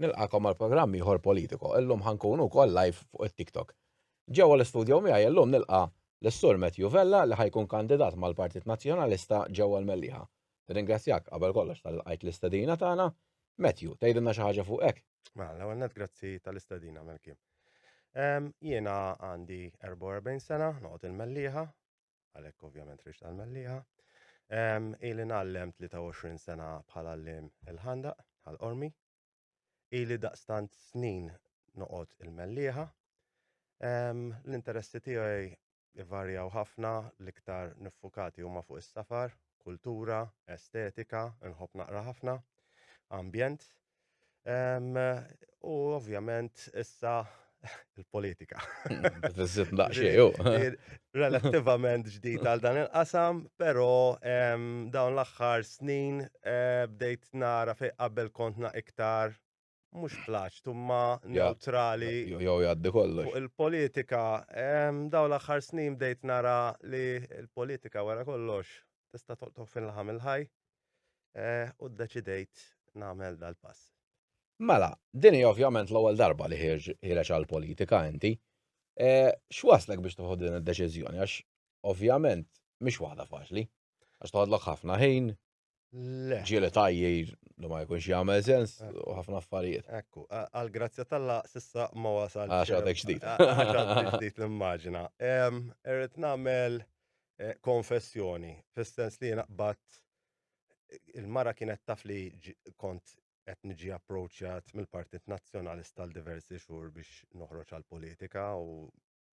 Nilqakom għal programm ieħor politiko. Illum ħankunu wkoll live fuq it-TikTok. Ġewwa l-istudju miegħi illum nilqa' l-Sur Matthew Vella li ħajkun kandidat mal-Partit Nazzjonalista ġewwa l-Mellieħa. Ringrazzjak qabel kollox tal-qajt l-istedina tagħna. Matthew, tgħidilna xi ħaġa fuq hekk? Mela, l-ewwel net grazzi tal-istedina Melkim. Jiena għandi 44 sena, noqgħod il-Mellieħa, għalhekk ovvjament riġt għal Mellieħa. Ili nallem 23 sena bħala l-lim il-ħandaq, għal-qormi. Ili daqstant snin noqot il-Mellieħa. L-interessi tiegħi ivarjaw ħafna l-iktar niffukati huma fuq is-safar, kultura, estetika, nħobb naqra ħafna, ambjent. U ovvjament issa il-politika. Tizzit naqxieju. Relativament ġdid għal dan il-qasam, pero dawn l-axħar snin eh, bdejt nara fej qabel kontna iktar mux plaċ, tumma neutrali. Jow jaddi kollu. Il-politika, daw l-axħar snin bdejt nara li il-politika wara kollox tista' toqtok fin-laħam il-ħaj. u ddeċidejt nagħmel dal-pass. Mela, din hi ovvjament l-ewwel darba li ħireġ għall-politika inti. X'waslek biex toħod din id-deċiżjoni għax ovvjament mhix waħda faċli. Għax toħodlok ħafna ħin, ġieli tajjir li ma jkunx jagħmel sens u ħafna affarijiet. Ekku, għal grazzja tal-la sissa ma wasal. Għax għadek ġdid. Għax għadek ġdid l-immaġina. Irrid nagħmel eh, konfessjoni, fis-sens li jiena qbad il-mara kienet taf li kont qed niġi approċjat mill-Partit Nazzjonalista għal diversi xhur biex noħroġ għal politika u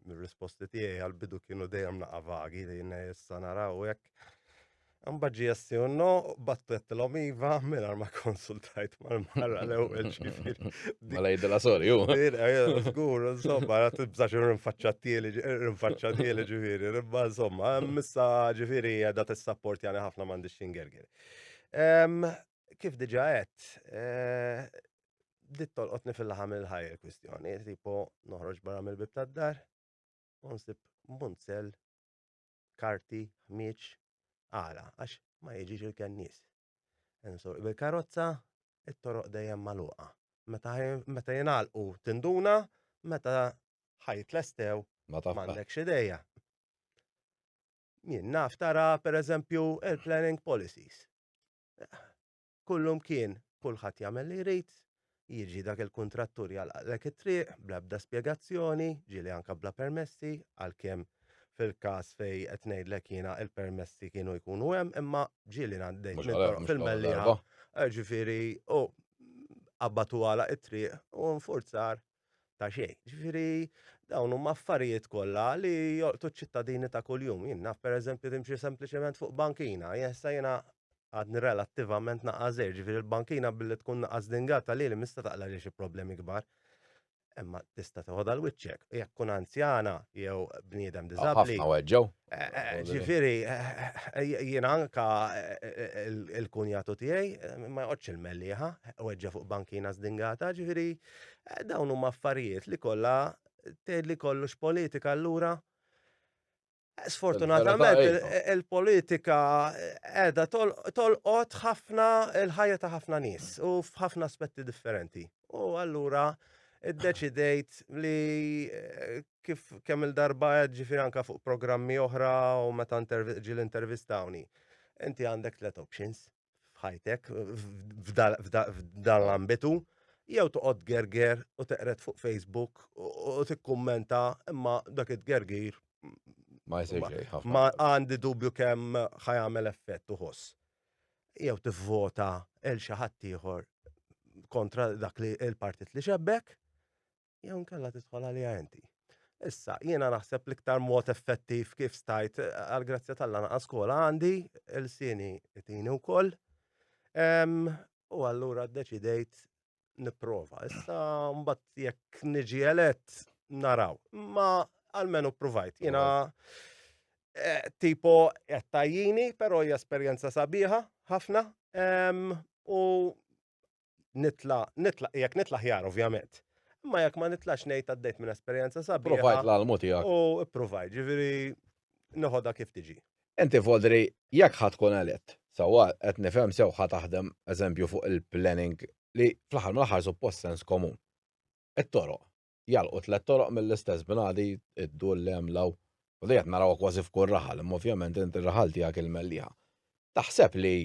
mir-risposti tiegħi għal bidu kienu dejjem naqa' vagi li issa naraw hekk. Imbagħad ġie STUNO, bat tlettilhom iva mingħajr ma konsultajt mal-mara l-ewwel ġifieri. Mela jidilha sorry hu. Żgur, insomma, qed tibża' xi rinfaċċa tieli, rinfaċċa tieli ġifieri, imma insomma, issa ġifieri qiegħda tissapportjani ħafna m'għandix x'ingerger. Kif diġà għedt, eh, bdiet tolqotni fil-laħam il-ħajja l-kwistjoni, tipo noħroġ barra mill-bib tad-dar, u nsib munzell karti, ħmieġ, għala? Għax ma jiġix il-kennies. Insur bil-karozza, it-toroq dejjem magħluqa. Meta meta jingħalqu tinduna, meta ħajt lestew Ma taf. m'għandekx idea. Jien naf tara pereżempju il-planning policies. Kollu mkien, kulħadd jagħmel li jrid, jiġi dak il-kuntrattur jagħlaqlek it-triq bla ebda spjegazzjoni, ġieli anke bla permessi, għalkemm fil-każ fejn qed ngħidlek jiena il-permessi kienu jkunu hemm, imma ġieli ngħaddejt minn toroq fil-Mellieħa, ġifieri hu qabbad u għalaq it-triq u infurzar ta' xejn. Ġifieri dawn huma affarijiet kollha li jolqtu ċ-ċittadini ta' kuljum. Jien naf pereżempju timxi sempliċement fuq bankina, jessa jiena għadni relattivament naqas żgħir, ġifieri l-bankina billi tkun naqas dingata lili mista taqla' li xi problemi kbar. Imma tista' toħodha l wiċċek, jekk tkun anzjana jew bniedem diżabbli. Ħafna weġġgħu. Eh, eh, ġifieri eh, jiena anka il-kunjatu tiegħi ma joqgħodx il-melliħa, weġġa' fuq bankina żdingata, ġifieri Dawn huma affarijiet li kollha tgħid li kollox politika allura Sfortunatament il-politika qiegħda tolqot ħafna il-ħajja ta' ħafna nies u f'ħafna aspetti differenti. U allura iddeċidejt li eh, kif kemm il-darba qed ġifier anke fuq programmi oħra u meta ġiel intervistawni. Inti għandek tliet options. f'ħajtek f'dan l-ambitu jew toqgħod gerger u teqret fuq Facebook u tikkummenta imma dak it-gergir ma ma għandi dubju kemm ħajamel effett uħoss. Jew tivvota il xi ħadd ieħor kontra dak li il-partit li xebbek jew nkella tidħol għalija inti. Issa, jiena naħseb l-iktar mod effettiv kif stajt eh, għal-grazzja tal lana skola għandi, il-sini itini u koll. U għallura d-deċidejt niprofa. Issa, mbatt jekk niġi elett, naraw. Ma għalmenu provajt. Jiena eh, tipo jattajjini, pero hija esperjenza sabiħa, ħafna. U nitla, nitla, jekk nitla ħjar ovvjament. Imma jekk ma nitlax ngħid għaddejt minn esperjenza sabiħa. Provajt l-almu tiegħek. U provajt, ġifieri noħodha kif tiġi. Inti Vodri, jekk ħadd tkun elett, sewwa qed nifhem sew ħa taħdem eżempju fuq il-planning li fl-aħħar mill-aħħar suppost sens komun. It-toroq, jalqu tliet toroq mill-istess bnadi id-dur li hemm law. U li qed narawha kważi f'kull raħal, imma ovvjament inti raħal tiegħek il-Mellieħa. Taħseb li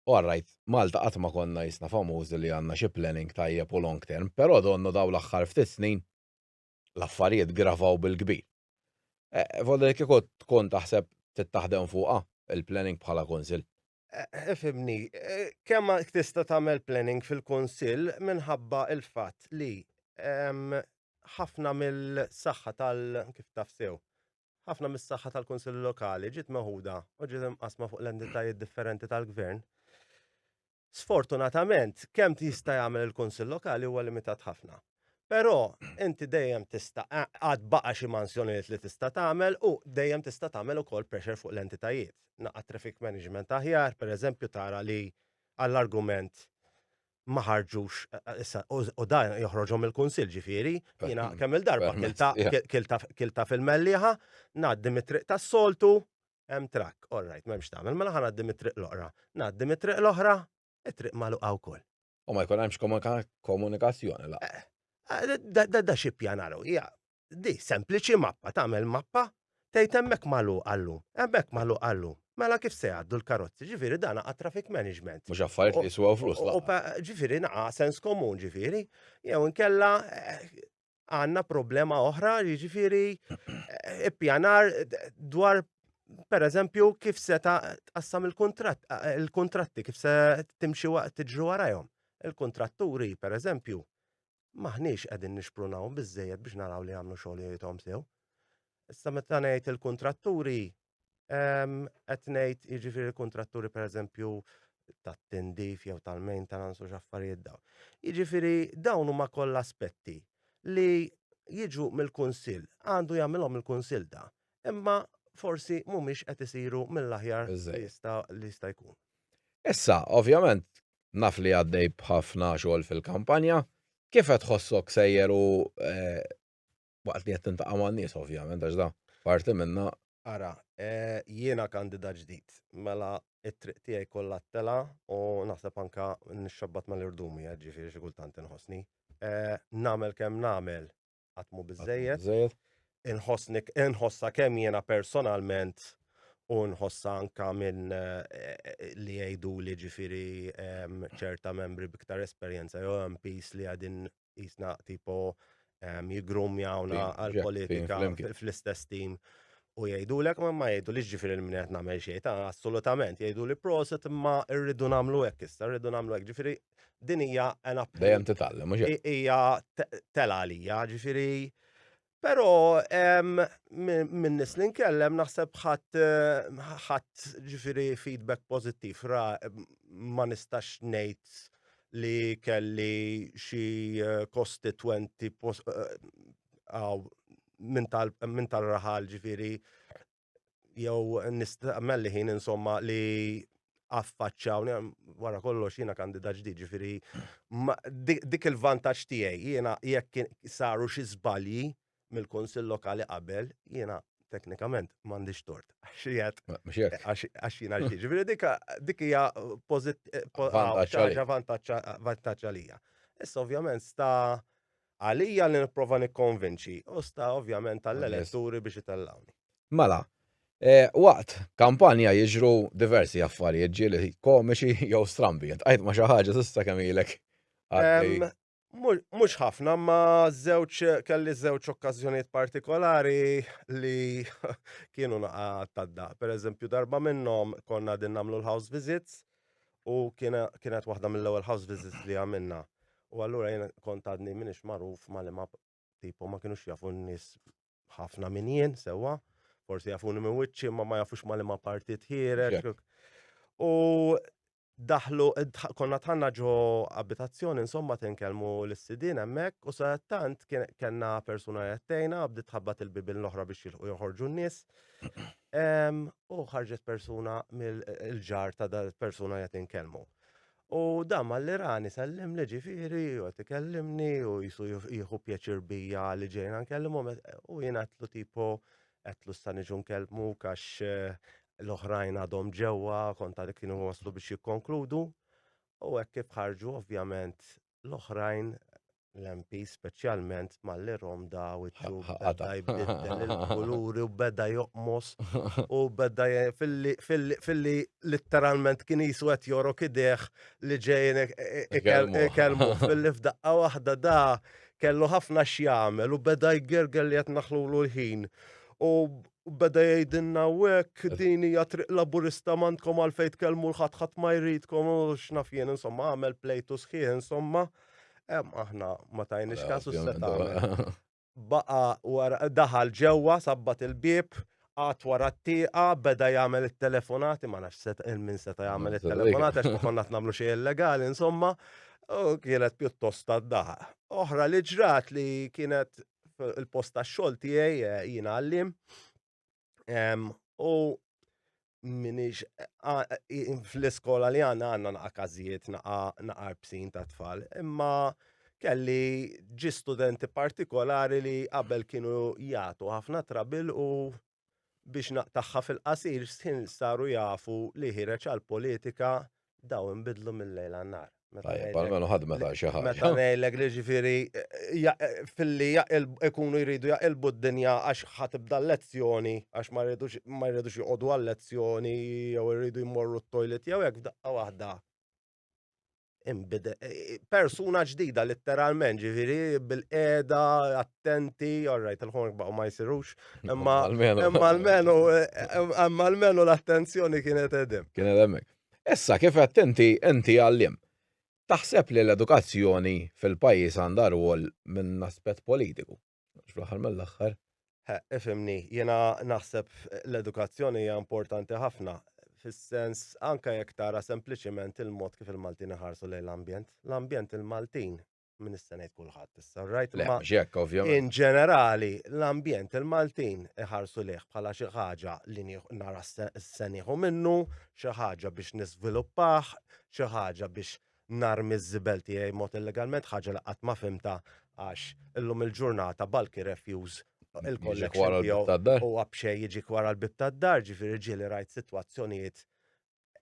U alright, Malta qatt ma konna qisna famużi li għandna xi planning tajjeb u long term, però donnu dawn l-aħħar ftit snin l-affarijiet gravaw bil-kbir. F'għodu li kieku tkun taħseb trid taħdem fuqha, il-planning bħala Kunsill. Ifhimni, kemm tista' tagħmel planning fil-Kunsill minħabba l-fatt li ħafna mill-saħħa tal-, kif taf sew, Ħafna mis-saħħa tal-Kunsilli Lokali ġiet meħuda u ġiet imqasma fuq l-entitajiet differenti tal-Gvern. Sfortunatament, kemm tista' jagħmel il-Kunsill Lokali huwa limitat ħafna. Però inti dejjem tista' għad baqa' xi mansjonijiet li tista' tagħmel u dejjem tista' tagħmel ukoll pressure fuq l-entitajiet. Naqgħad traffic management aħjar, pereżempju tara li għall-argument ma ħarġux issa u dan joħroġhom il-kunsill ġifieri, jiena kemm il-darba kilta fil-melliħa, ngħaddi mit-triq tas-soltu, hemm trakk, all right, m'hemmx tagħmel, mela ħa ngħaddi mit-triq l-oqra. Ngħaddi mit-triq l-oħra, it-triq magħluqa wkoll. U ma jkun hemmx komunikazzjoni laqgħa. Da xi pjanaru, hija Di sempliċi mappa tagħmel mappa tgħid hemmhekk magħluq għallum, hemmhekk magħluq għallum. Mela kif se jgħaddu l-karozzi? Ġifieri dan għad traffic management. Mhux affarijiet li jiswew flus laqgħa. Ġifieri naqa' sens komun ġifieri, jew inkella għandna problema oħra jiġifieri ippjanar dwar per eżempju kif se tqassam il-kuntratt, il-kuntratti kif se timxi waqt tiġru warajhom. Il-kuntratturi per eżempju maħniex qegħdin nixprunaw biżejjed biex naraw li jagħmlu xogħlijiethom sew. Issa meta ngħid il-kuntratturi, ehm, qed ngħid jiġifieri l-kuntratturi pereżempju tat-tindif jew tal-maintenance u x'affarijiet dawn. Jiġifieri dawn huma kollha aspetti li jiġu mill-kunsill, għandu jagħmilhom il-kunsill da, imma forsi mhumiex qed isiru mill-aħjar li jista' jkun. Issa, ovvjament, naf li għaddej b'ħafna xogħol fil-kampanja, kif qed tħossok sejjer u waqt li qed tintaqa' man-nies ovvjament għax da parti minnha. Ara, jiena kandidat ġdid, mela t-triq tiegħi kollha t-telgħa u naħseb anke nixxabbat mal-irdumi, jiġifieri xi kultant inħossni. Nagħmel kemm nagħmel, qatt mhu biżejjed. Inħossni inħossha kemm jiena personalment u nħossha anka minn eh, li jgħidu li ġifieri em, ċerta membri biktar esperjenza jew MPs li għadin jisna tipo em, jigrumjawna Tim, għal ġetti, politika flimkien. fl-istess tim u jgħidu l ma ma jgħidu li ġifiri l-minet namel xejn, ta' assolutament jgħidu li proset imma rridu namlu hekk issa, rridu namlu hekk ġifiri din hija an approach. Dejjem titgħallem, mhux hekk. Hija tela għalija, ġifieri. Però minn nis li nkellem naħseb ħadd ħadd ġifieri feedback pożittiv ra ma nistax ngħid li kelli xi eh, kostitwenti eh, minn tal-raħal ġifieri jew nistaqmel li ħin insomma li affaċċaw wara kollox jiena kandida ġdid ġifieri dik il-vantaġġ tiegħi jiena jekk saru xi żbalji mill-Kunsill Lokali qabel jiena teknikament m'għandix tort. Għax jiena ġdid. Ġifieri dik hija pożittiva vantaġġ għalija. Issa ovvjament sta Għalija li nipprova nikkonvinċi, u sta ovvjament għall-eletturi biex itellgħuni. Mela, e, waqt kampanja jiġru diversi affarijiet ġieli komiċi jew strambi. Għajt ma xi ħaġa s'issa kemm ilek. Mhux ħafna, ma żewġ kelli żewġ okkażjonijiet partikolari li kienu naqa' tadda. Per eżempju, darba minnhom konna din nagħmlu l-house visits U kienet waħda mill-ewwel house visits li għamilna. U allura jien kont għadni minix magħruf ma li ma tipo ma kienux jafu n-nies ħafna minn jien sewwa. Forsi jafuni minn wiċċi ma ma jafux ma li ma parti tħireġ. U daħlu, konna tħanna ġo abitazzjoni, insomma tinkellmu l-sidin hemmhekk u sa tant kellna persuna jattejna bdiet tħabbat il-bibin l-oħra biex jilħu joħorġu n-nies. U ħarġet persuna mill-ġar ta' dal persuna qed inkellmu. U dan mal-Irani sellem li ġifiri, u għet ikellimni, u jisu jieħu pjaċir bija li ġejna nkellimu, u jien għatlu tipo, għatlu s-saniġu nkellmu, kax eh, l-oħrajn għadhom ġewa, konta li kienu waslu biex jikkonkludu, u għek kif ħarġu, ovvjament, l-oħrajn l-MP speċjalment malli rom da u beda jbiddel il-kuluri u beda joqmos u beda fil-li literalment kien jisu għet jorok ideħ li ġejn e- e- e- kelmu fil-li f'daqqa wahda da kellu ħafna xjamel u beda jgergel li għet naħlu l-ħin u U beda jgħidilna hawnhekk din hija triq laburista m'għandkom għalfejn tkellmu l ħadd ħadd ma jridkom u x'naf jien insomma għamel plejtu sħiħ insomma. Aħna ma tajniex kasu seta' baqa wara daħal ġewwa sabbat il-bieb għat wara t-tieqa beda jagħmel it-telefonati ma nafx seta' il-min seta' jagħmel it-telefonati għax ma konna nagħmlu xejn illegali insomma u kienet pjuttost tad-daħaq. Oħra li ġrat li kienet il-post tax-xogħol tiegħi eh, jiena għallim u minix fl-iskola li għanna għanna naqa kazijiet naqa bsin ta' tfal, imma kelli ġi studenti partikolari li qabel kienu jgħatu ħafna trabil u Biex naqtagħha fil-qasir x'ħin saru jafu li ħireġ għall-politika daw inbidlu mill-lejl għan-nhar. Tajjeb, almenu ħadmet għal xi ħaġa. Meta ngħidlek li ġifieri filli ikunu jridu jaqilbu d-dinja għax ħa tibda l-lezzjoni għax ma jridux joqogħdu għal-lezzjoni jew iridu jmorru t-toilet jew hekk f'daqqa waħda persuna ġdida letteralment, ġifiri bil-qeda, attenti, orrajt, il-ħonk baqgħu ma jsirux, imma almenu imma almenu l-attenzjoni kienet edem. Kien edemmek. Issa kif attenti enti għallim. Taħseb li l-edukazzjoni fil-pajjiż għandha rwol minn aspett politiku? Fl-aħħar mill-aħħar. Ifimni, jiena naħseb l-edukazzjoni hija importanti ħafna fis-sens anke jekk tara sempliċiment il-mod kif il-Maltin iħarsu lejn l-ambjent. L-ambjent il-Maltin minn issa ngħid kulħadd issa, right? Ma ġekk ovvjament. In ġenerali, l-ambjent il-Maltin iħarsu lih bħala xi ħaġa li nara s-seniħu minnu, xi ħaġa biex niżviluppah, xi ħaġa biex narmi ż-żibel tiegħi mod illegalment ħaġa li qatt ma fimta għax illum il-ġurnata bulky refuse il-collection tiegħu u għabxej jiġi kwara l-bib tad-dar ġifieri ġieli rajt sitwazzjonijiet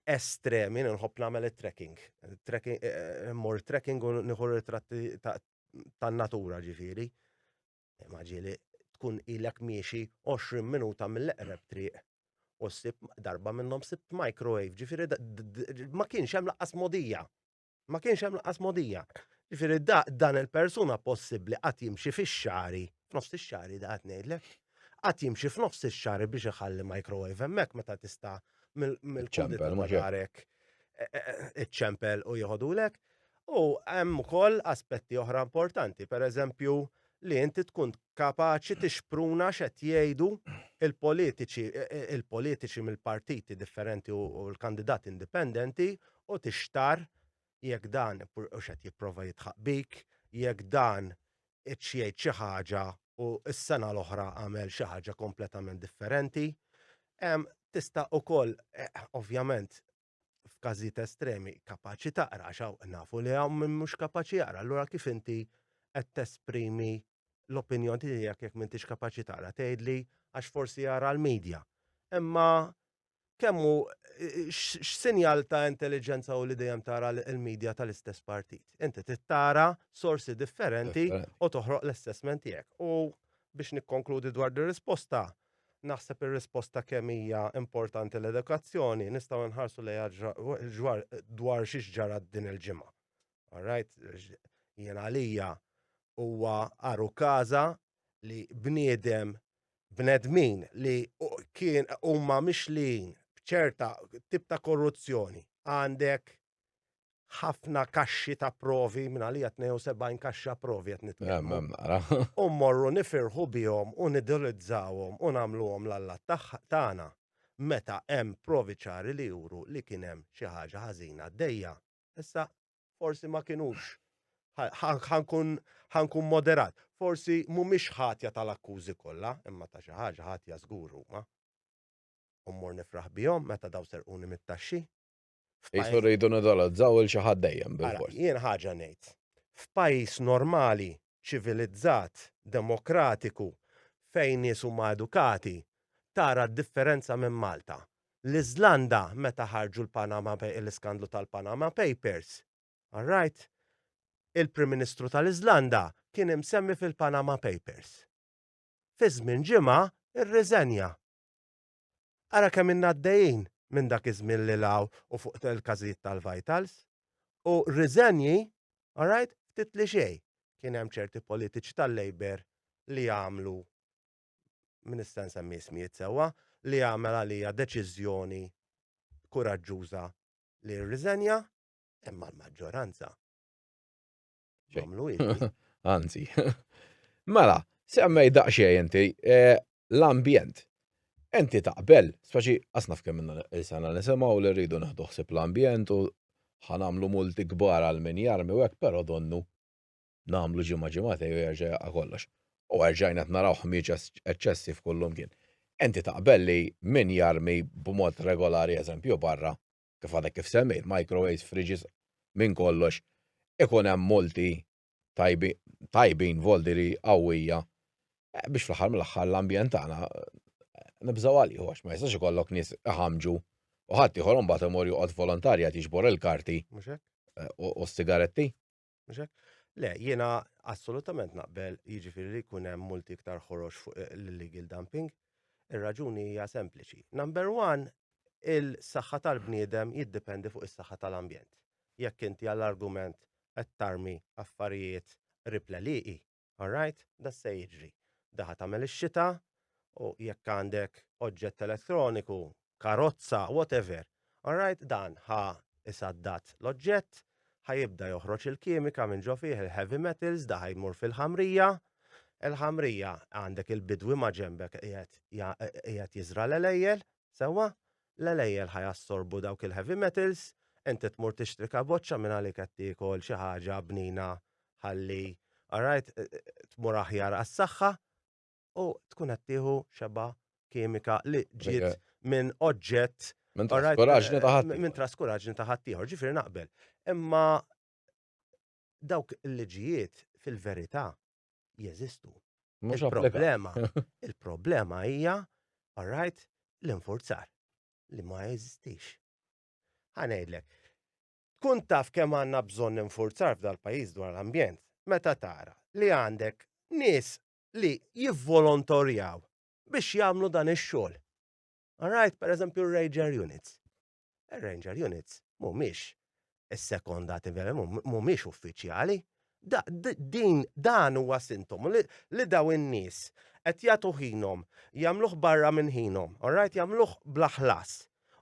estremi nħobb nagħmel it-trekking. Trekking eh, eh, mor trekking u nieħu ritratti tan-natura ġifieri. Ma ġieli tkun ilek miexi 20 minuta mill-eqreb triq u ssib darba minnhom sibt microwave, ġifieri ma kienx hemm laqqas modija. Ma kienx hemm laqqas modija. Ġifieri da dan il-persuna possibbli qatt jimxi fix-xari, f'nofs ix-xari da qed ngħidlek. Qatt jimxi f'nofs ix-xari biex iħalli microwave hemmhekk meta tista' mill-ċempel ma ġarek iċ-ċempel u jieħodulek. U hemm ukoll aspetti oħra importanti, pereżempju li inti tkun kapaċi tixpruna x'qed jgħidu il-politiċi il-politiċi mill-partiti differenti u l-kandidati indipendenti u tixtar jekk dan u x'qed jipprova jidħaq bik, jekk dan qedx jgħid xi ħaġa u s-sena l-oħra għamel xi ħaġa kompletament differenti. Tista' ukoll ovvjament f'każijiet estremi kapaċi taqra għax hawn nafu li hawn min mhux kapaċi jaqra, allura kif inti qed tesprimi l-opinjoni tiegħek jekk m'intix kapaċi taqra tgħidli għax forsi jara l-medja. Imma kemm hu x'sinjal ta' intelliġenza u li dejjem tara l-medja tal-istess partit. Inti tittara sorsi differenti u toħroq l-assessment tiegħek. U biex nikkonkludi dwar dir-risposta, Naħseb ir-risposta kemm hija importanti l-edukazzjoni nistgħu nħarsu lejha ġwar dwar xiex ġara din il-ġimgħa. All right? Jien għalija huwa għaru każa li bniedem bnedmin li kien huma mixlin b'ċerta tip ta' korruzzjoni għandek ħafna kaxxi ta' provi, minn għalija 72 kaxxa provi qed nitkellmu. U mmorru nifirħu bihom u nidilizzawhom u nagħmluhom l-alla tagħna meta hemm provi ċari li juru li kien hemm xi ħaġa ħażina għaddejja. Issa forsi ma kinux ħankun moderat. Forsi mhumiex ħatja tal-akkużi kollha, imma ta' xi ħaġa ħatja żgur huma. U mmur nifraħ bihom meta daw serquni mit-taxxi. Jisu rridu nidolazzaw il xi ħadd dejjem bil-fors. Jien ħaġa ngħid. F'pajjiż normali, ċivilizzat, demokratiku, fejn nies huma edukati, tara d-differenza minn Malta. L-Iżlanda meta ħarġu l-Panama l-iskandlu tal-Panama Papers, all right, il-Prim Ministru tal-Iżlanda kien imsemmi fil-Panama Papers. Fi żmien ġimgħa rriżenja. Ara kemm ilna għaddejjin minn dak iż-żmien lil hawn u fuq il-każijiet tal-vitals. U riżenji, alright, ftit li xejn, kien hemm ċerti politiċi tal-Labour li għamlu, min nista' nsemmi ismijiet sewwa, li għamel għalija deċiżjoni kuraġġuża li jirriżenja, imma l-maġġoranza. Għamlu Anzi. Mela, semmej daqxie inti eh, l-ambjent. Enti taqbel, speċi asna f'kemm minna il-sena nisimaw li rridu naħduħsib l-ambjent u ħanamlu multi kbar għal min jarmi u għek, pero donnu namlu ġimma ġimate u jarġa kollox. U għarġajna t-naraw ħmieġ eccessi f'kullum kien. Enti taqbel li min jarmi b'mod regolari eżempju barra kif għadek kif semmejt, microwaves, fridges, minn kollox, ikun hemm multi tajbin voldiri qawwija eh, biex fl-aħħar mill-aħħar l-ambjent tagħna eh, nibżgħu għalih għax ma jistax ikollok nies iħamġu u ħadd ieħor imbagħad imur joqgħod volontarja tiġbor il-karti eh, u s-sigaretti. Mhux hekk? Le, jiena assolutament naqbel jiġifieri li jkun hemm multi iktar ħorox fuq l-illegal dumping. Ir-raġuni hija sempliċi. Number one, il-saħħa tal-bniedem jiddependi fuq is-saħħa tal-ambjent. Jekk inti għall-argument qed tarmi affarijiet ripleliqi, All right, da se jiġri. Daħa tagħmel ix-xita u jekk għandek oġġett elettroniku, karozza, whatever, all right, dan ħa isaddat l-oġġett, ħa jibda joħroġ il-kimika minn ġo fih il-heavy metals, da ħa jmur fil-ħamrija, il-ħamrija għandek il-bidwi ma' ġembek qiegħed jiżra l-elejjel, Sewwa, l-għelejjel ħa jassorbu dawk il-heavy metals, inti tmur tixtri kaboċċa minn għalik qed tiekol xi ħaġa bnina ħalli, alright, tmur aħjar għas-saħħa u tkun qed tieħu xebgħa kimika li ġiet minn oġġett Minn traskuraġni ta' ħadd. Minn traskuraġni ta' ħadd ieħor, ġifieri naqbel. Imma dawk il-liġijiet fil-verità jeżistu. Mhux problema. Il-problema hija, all right, l-infurzar li ma jeżistix. Ħanejdlek, tkun taf kemm għandna bżonn infurzar f'dal-pajjiż dwar l-ambjent, meta tara li għandek nies li jivvolontorjaw biex jagħmlu dan ix-xogħol. All right, per eżempju, rager units. Ir-ranger units mhumiex issekondati vera, mhumiex uffiċjali. Da, d- din dan huwa sintomu li, li daw in-nies qed jagħtu ħinhom, jagħmluh barra minn ħinhom, all right, jagħmluh bla ħlas.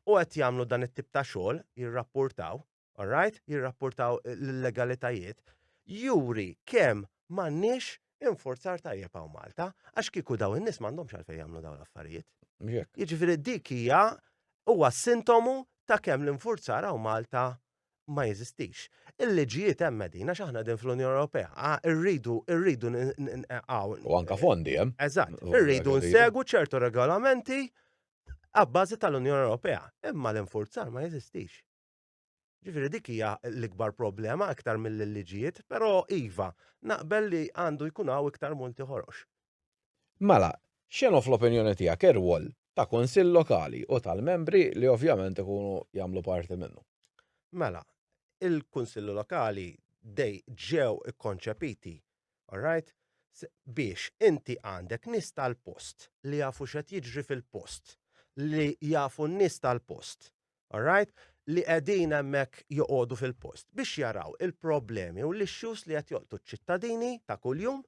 U qed jagħmlu dan it-tip ta' xogħol, jirrappurtaw, alright, jirrapportaw l-legalitajiet, juri kemm m'għandniex infurzar tajjeb hawn Malta, għax kieku daw in-nies m'għandhomx għalfejn jagħmlu dawn l-affarijiet. Jiġifieri dik hija huwa sintomu ta' kemm l-infurzar hawn Malta ma jeżistix. Il-liġijiet hemm qegħdin għax aħna din fl-Unjoni Ewropea, irridu irridu hawn. U anke fondi hemm. Eżatt, irridu nsegu ċertu regolamenti għabbażi tal-Unjoni Ewropea, imma l-infurzar ma jeżistix. Ġifieri dik hija l-ikbar problema aktar mill-liġijiet, però iva, naqbel li għandu jkun hawn iktar multi ħorox. Mela, x'inhu fl-opinjoni tiegħek ir-rwol ta' kunsill lokali u tal-membri li ovvjament ikunu jagħmlu parti minnu? Mela, il-kunsilli lokali dej ġew ikkonċepiti, all right, biex inti għandek nies tal-post li jafu x'qed jiġri fil-post, li jafu n-nies tal-post, all right, li qegħdin hemmhekk joqogħdu fil-post biex jaraw il-problemi u l-issues li qed joqtu ċ-ċittadini ta' kuljum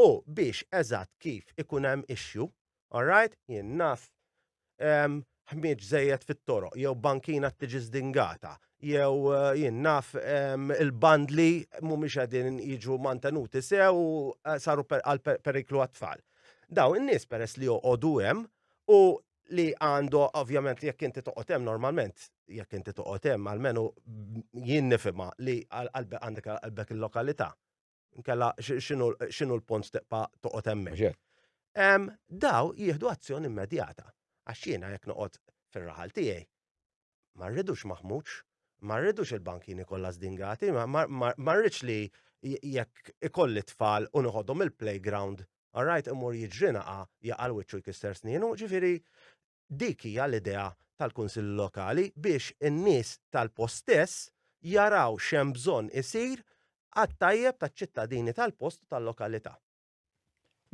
u biex eżatt kif ikun hemm issue, all right, jien naf ehm, ħmieġ żejjed fit-toroq, jew bankina tiġi zdingata, jew eh, jien naf ehm, il-bandli mhumiex qegħdin jiġu mantenuti sew u eh, saru għal periklu għat-tfal. Daw in-nies peress li joqogħdu hemm u li għandu ovvjament li jekk inti toqgħod hemm normalment, jekk inti toqgħod hemm għalmenu jien nifhimha li għalbek għandek għalbek il-lokalità. Nkella x'inhu l-punt teqpa toqgħod hemmhekk. Daw jieħdu azzjoni immedjata għax jiena jekk noqgħod fir-raħal tiegħi ma rridux maħmuġ, ma rridux il-bankini kollha zdingati, ma rridx li jekk ikolli tfal u nħodhom il-playground, all right, imur jiġrinaqa jaqal wiċċu jkisser snienu, ġifiri dik hija l-idea tal-Kunsill Lokali biex in-nies tal-postess jaraw xem bżonn isir għat-tajjeb taċ-ċittadini tal-post tal-lokalità.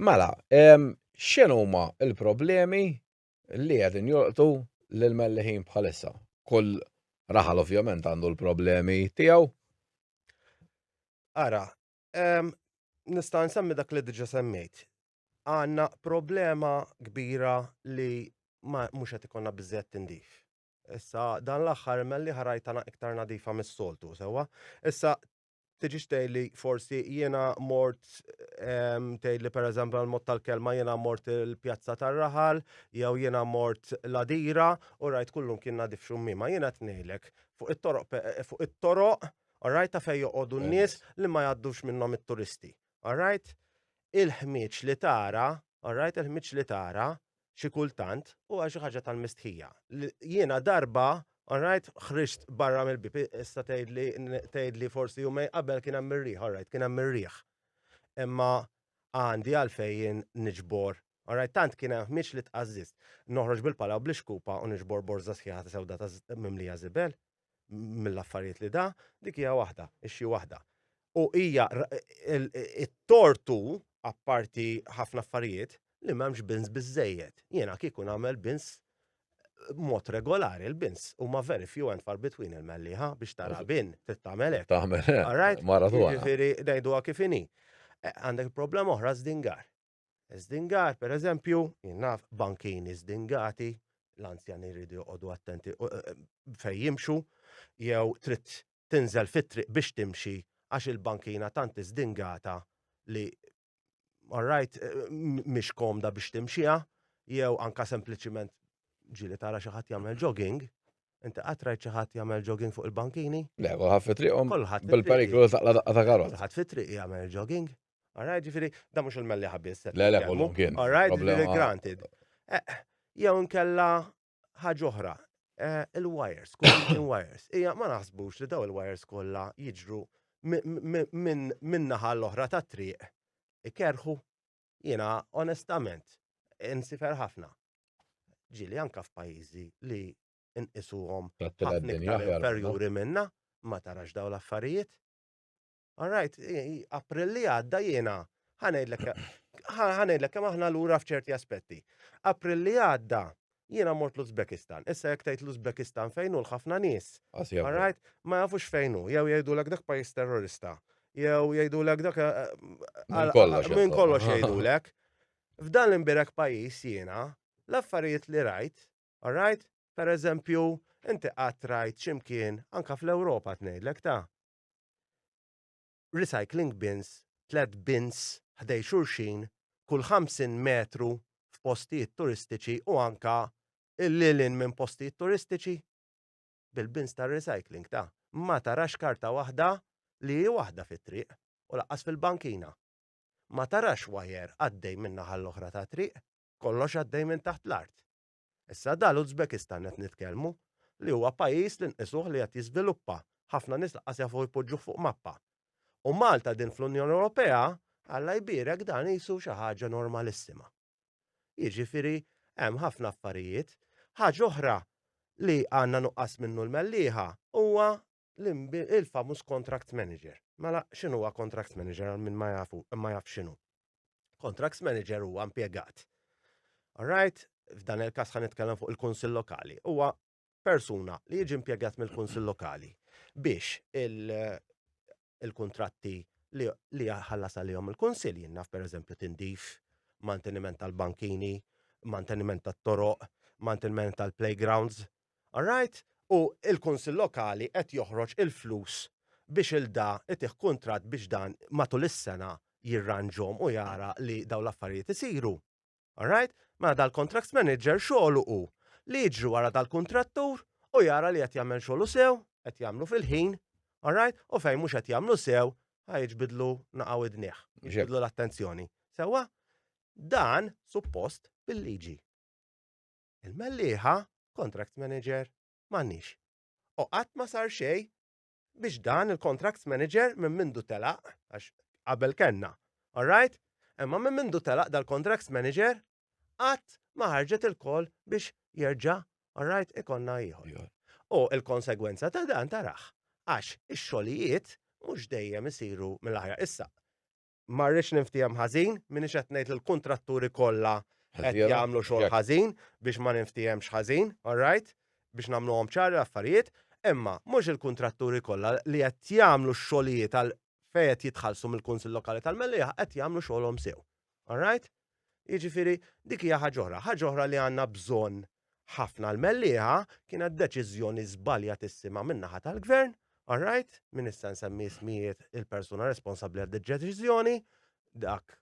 Mela, x'inhuma l-problemi li qegħdin jolqtu lil melliħin bħalissa. Kull raħal ovvjament għandu l-problemi tiegħu. Ara, nista' nsemmi dak li diġa semmejt. Għanna problema kbira li ma mhux qed ikonna biżżejjed tindif. Issa dan l-aħħar melli ħarajtana iktar nadifa mis-soltu, sewwa. Issa tiġix tgħidli forsi jiena mort ehm, tgħidli pereżempju għal mod tal-kelma jiena mort il-pjazza tar-raħal jew jiena mort l-adira u rajt kullum kien nadif xummima jiena qed ngħidlek fuq it-toroq fuq it-toroq rajt ta' fejn joqogħdu n-nies li ma jgħaddux minnhom it-turisti. Alright? Il-ħmieġ li tara, alright, il-ħmieġ li tara xi kultant huwa xi ħaġa tal-mistħija. Jiena darba, alright, ħriġt barra mill-bib, issa tgħidli tgħidli forsi jumej qabel kien hemm ir-riħ, alright, kien hemm ir-riħ. Imma għandi għalfejn niġbor Alright, tant kien hemm ħmieġ li tqażżist. Noħroġ bil-pala u bl-ixkupa u niġbor borża sħiħa ta' sewda ta' mimlija żibel. mill-affarijiet li da, dik hija waħda, ixxi waħda. U hija it-tortu apparti ħafna affarijiet li m'hemmx bins biżejjed. Jiena kieku nagħmel bins mod regolari l-bins u ma very few and far between il-melliħa biex tara bin tittamelek. Tamelek. Alright? Mara tu. Ġifiri, dajdu kifini. Eh, għandek problema oħra zdingar. Zdingar, per eżempju, jinnaf bankini zdingati, l-anzjani jridu joqogħdu attenti eh, eh, fejn jimxu, jew trid tinżel fit-triq biex timxi għax il-bankina tant zdingata li alright eh, mhix komda biex timxiha, jew anka sempliċiment ġili tara xi ħadd jagħmel jogging, Inti qatrajt xi ħadd jagħmel jogging fuq il-bankini? Le, kulħadd fi triqhom. Kulħadd. Bil-periklu taqla daqqa ta' karot. Kulħadd fi triq jagħmel jogging. All right, ġifiri, da mux il-melli ħabis. Le, le, kollu kien. All right, ġifiri, granted. Eh, jew nkella ħagħuħra, eh, il-wires, kull wires. Ija, ma naħsbux li daw il-wires kolla jiġru minn naħa l-oħra ta' triq. Ikerħu, jina, onestament, insifer ħafna. Ġili anka f'pajizi li nqisuhom ħafna perjuri minna, ma tarax daw l-affarijiet. All right, April li għadda jiena ħanejdlek ħanejdlek kemm aħna lura f'ċerti aspetti. April li għadda jiena mort l-Uzbekistan. Issa jekk tgħid l-Uzbekistan fejn hu l-ħafna nies. All right, ma jafux fejn hu, jew jgħidulek dak pajjiż terrorista. Jew jgħidulek dak eh, eh, minn kollox jgħidulek. F'dan l-imbirek pajjiż jiena l-affarijiet li rajt, all right, per eżempju, inti qatt rajt ximkien anka fl-Ewropa tnejdlek ta' recycling bins, tliet bins ħdejn xulxin kull 50 metru f'postijiet turistiċi u anke lil hinn minn postijiet turistiċi bil-bins tar-recycling ta' ma tarax karta waħda li hi waħda fit-triq u lanqas fil-bankina. Ma tarax wajer għaddej min-naħa l-oħra tat-triq, kollox għaddej minn taħt l-art. Issa da l-Uzbekistan qed nitkellmu li huwa pajjiż li nqisuh li qed jiżviluppa, ħafna nies lanqas jafu jpoġġuh fuq mappa. U Malta din fl-Unjoni Ewropea, Alla jbierek dan qisu xi ħaġa normalissima. Jiġifieri hemm ħafna affarijiet. Ħaġa oħra li għandna nuqqas minnu l-Mellieħa huwa il-famuż contract manager. Mela x'inhu huwa contract manager għal min ma jafu, ma jaf x'inhu. Contracts manager huwa impjegat. Alright, f'dan il-każ ħan nitkellem fuq il-Kunsill Lokali. Huwa persuna li jiġi impjegat mill-Kunsill Lokali biex il-kontratti li ħallas għalihom il-Kunsill jinnaf per eżempju tindif, manteniment tal-bankini, manteniment tat-toroq, manteniment tal-playgrounds, All right? U l-Kunsill Lokali qed joħroġ il-flus biex 'il da itih kuntratt biex dan matul is-sena jirranġhom u jara li dawn l-affarijiet isiru. All right? Mela dal-contracts manager xogħlu hu li jiġri wara dal-kuntrattur u jara li qed jagħmel xogħlu sew, qed jagħmlu fil-ħin, all right? U fejn mhux qed jagħmlu sew, ħa jiġbidlu naqa' widnih, jiġbidlu l-attenzjoni. Sewwa? Dan suppost bil-liġi. Il-mellieħa, contract manager, m'għandniex. U qatt ma sar xejn biex dan il-contract manager minn mindu telaq, għax qabel kenna, alright? Imma minn mindu telaq dal-contract manager, qatt ma ħarġet il-kol biex jerġa' alright ikonna ieħor. U il-konsegwenza ta' dan tarax, għax ix-xogħlijiet mhux dejjem isiru mill-aħjar. Issa, ma rridx ninftiehem ħażin, minix qed ngħid li l-kuntratturi kollha qed jagħmlu xogħol ħażin biex ma ninftiehemx ħażin, all right? Biex nagħmluhom ċari l-affarijiet, imma mhux il-kuntratturi kollha li qed jagħmlu x-xogħlijiet għal fejn qed jitħallsu mill-Kunsill Lokali tal-Mellieħa qed jagħmlu xogħolhom sew. All right? Jiġifieri dik hija ħaġa oħra. Ħaġa oħra li għandna bżonn ħafna l-mellieħa kienet deċiżjoni żbaljatissima min-naħa tal-gvern, all right, min issa nsemmi ismijiet il-persuna responsabbli għad deċiżjoni dak